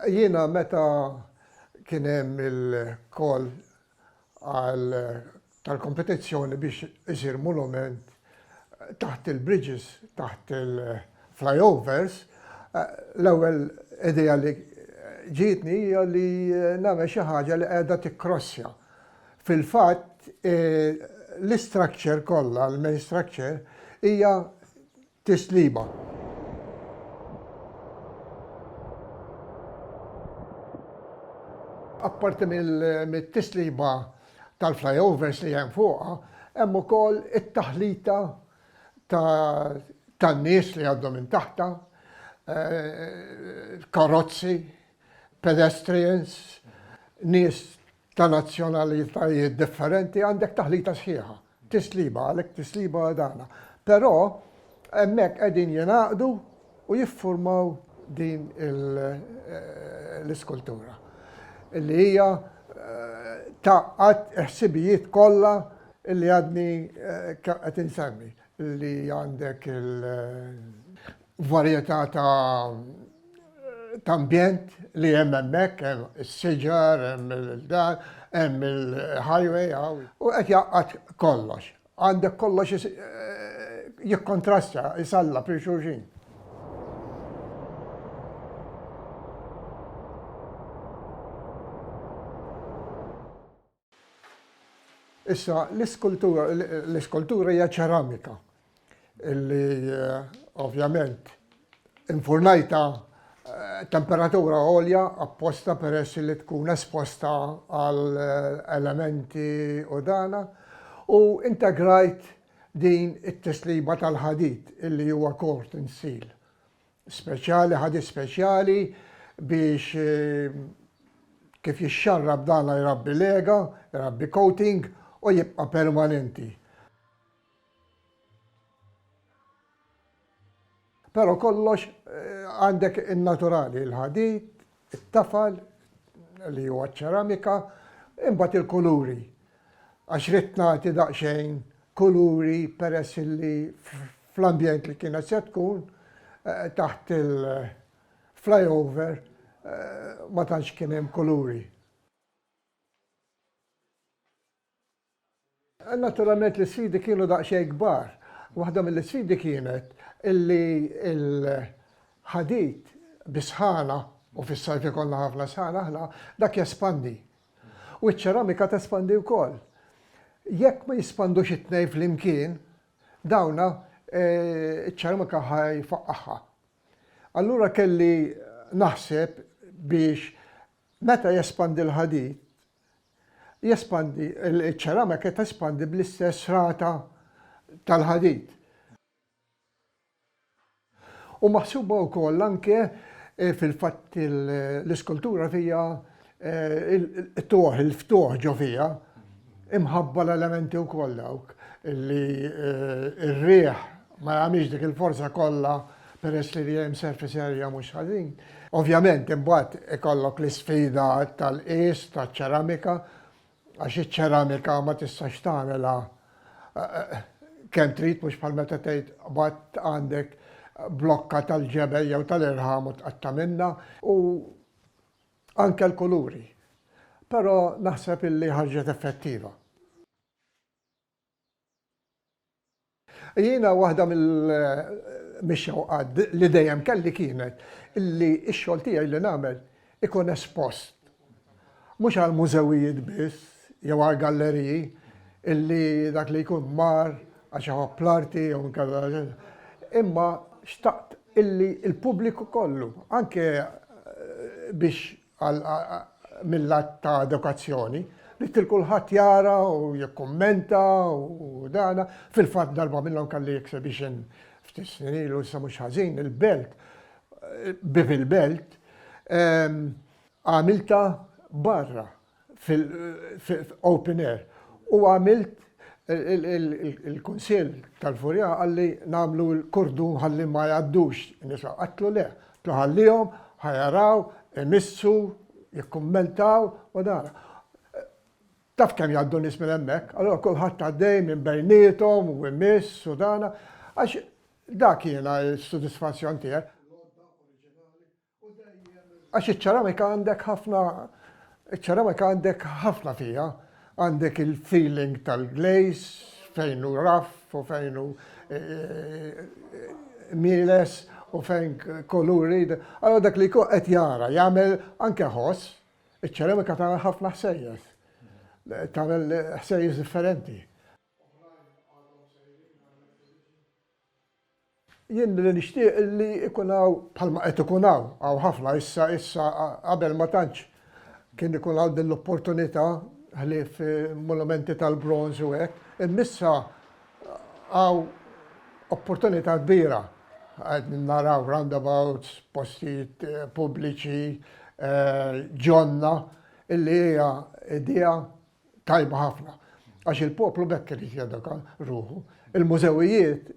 Jiena meta kien hemm il-call għal tal-kompetizzjoni biex isir monument taħt il-bridges, taħt il-flyovers, l-ewwel idea li ġietni hija li nagħmel xi ħaġa li qiegħda tikkrossja. Fil-fatt l-istructure kollha, l-main structure, hija Tislima. Apparti mit-tislima tal-flyovers li hemm fuqha, hemm ukoll it-taħlita tan-nies li jgħaddu minn taħtha, karozzi, pedestrians, nies ta' nazzjonalitajiet differenti għandek taħlita sħiħa. Tisliba, għalhekk tisliba dana. Però hemmhekk qegħdin jingħaqdu u jiffurmaw din l-iskultura li hija tgħaqqad il-ħsibijiet kollha li għadni qed insemmi li għandek il- varjetà ta' ta' ambjent li hemm hemmhekk, hemm is-siġar, hemm il-dan, hemm il-highway, u qed jgħaqqad kollox. Għandek kollox jikkontrasta, jisalla fil xulxin. Issa, l-iskultura, l-iskultura hija ċeramika illi ovvjament infurnajta temperatura għolja apposta peress li tkun esposta għal elementi u dana u integrajt din it-tisliba tal-ħadid illi huwa kort insil. speċjali, ħadid speċjali biex kif jixxarrab dana jrabbi lega, jrabbi coating u jibqa' permanenti. Però kollox għandek in-naturali, il-ħadid, it-tafal li huwa ċ-ċeramika, imbagħad il-kuluri għax ridt nagħti daqsxejn kuluri peress illi fl-ambjent li kienet se tkun taħt il-flyover ma tantx kien hemm kuluri. Naturalment l-isfidi kienu daqsxejn kbar. Waħda mill-isfidi kienet illi l-ħadid bis-sħana, u fis-sajf ikollna ħafna sħana aħna, dak jespandi. U ċ-ċeramika tespandi wkoll. Jekk ma jispandux it-tnejn flimkien, dawna ċ-ċeramika ħa jfaqqagħha. Allura kelli naħseb biex meta jespandi l-ħadid, Jespandi, iċ-ċeramika tespandi bl-istess rata tal-ħadid. U maħsuba wkoll anke fil-fatt l-iskultura fiha il-qtugħ, il-ftuħ ġo fiha, imħabba l-elementi wkoll dawk li r-riħ ma jagħmilx dik il-forza kollha peress li l-EM surface area mhux ħażin. Ovvjament imbagħad ikollok l-isfida tal-qies taċ-ċeramika għax iċ-ċeramika ma tistax tagħmilha kemm trid mhux bħal meta tgħid qbadt għandek blokka tal-ġebel jew tal-irħam u tqatta' minnha u anke l-kuluri. Però naħseb illi ħarġet effettiva. Jiena waħda mill-xewqat li dejjem kelli kienet illi x-xogħol tiegħi li nagħmel ikun espost. Mhux għall-mużewijiet biss jew għall-galleriji illi dak li jkun mar għax iħobb l-arti jew inkella imma xtaqt illi l-pubbliku kollu anke biex mill-lat ta' edukazzjoni, ridt lil kulħadd jara u jikkummenta u dana. Fil-fatt darba minnhom kelli exhibition ftit snin ilu issa mhux ħażin, il-belt, bieb il-belt, għamiltha barra, fil-open air. U għamilt il-kunsill tal-Furjan qalli nagħmlu l-kordun ħalli ma jgħaddux in-nisa. Għedtlu le. Għedtlu ħallihom, ħa jaraw, imissu, jikkummentaw u dan. Taf kemm jgħaddu nies minn hemmhekk, allura kulħadd għaddej minn bejniethom u jmiss u dan. Għax dak jiena s-sodisfazzjon tiegħi. Għax iċ-ċeramika għandek ħafna, iċ-ċeramika għandek ħafna fiha. Għandek il-feeling tal-glaze, fejn hu rough u fejn hu mieles u fejn kuluri. Allura dak li jkun qed jara jagħmel anke ħoss, iċ-ċeramika tagħmel ħafna ħsejjes. Tagħmel ħsejjes differenti. Jien billi nixtieq illi ikun hawn bħalma qed ikun hawn, hawn ħafna issa, issa qabel ma tantx kien ikun hawn din l-opportunità ħlief monumenti tal-bronż u hekk, imma issa hawn opportunità kbira. Qegħdin naraw roundabouts, postijiet pubbliċi, ġonna, illi hija idea tajba ħafna għax il-poplu b'hekk irid jeduka ruħu. Il-mużewijiet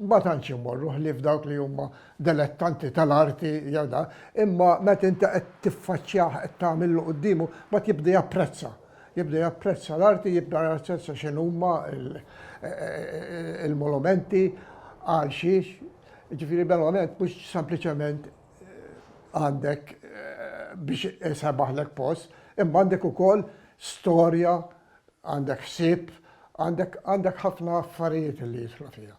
ma tantx imorru ħlief dawk li huma delettanti tal-arti jew da, imma meta inti qed tiffaċċjah qed tagħmillu quddiemu, mbagħad jibda japprezza. Jibda japprezza l-arti, jibda japprezza x'in huma il-monumenti għal xiex. Ġifieri verament mhux sempliċement għandek biex isebaħlek post, imma għandek ukoll storja, għandek ħsieb, għandek ħafna affarijiet li jidħlu fiha.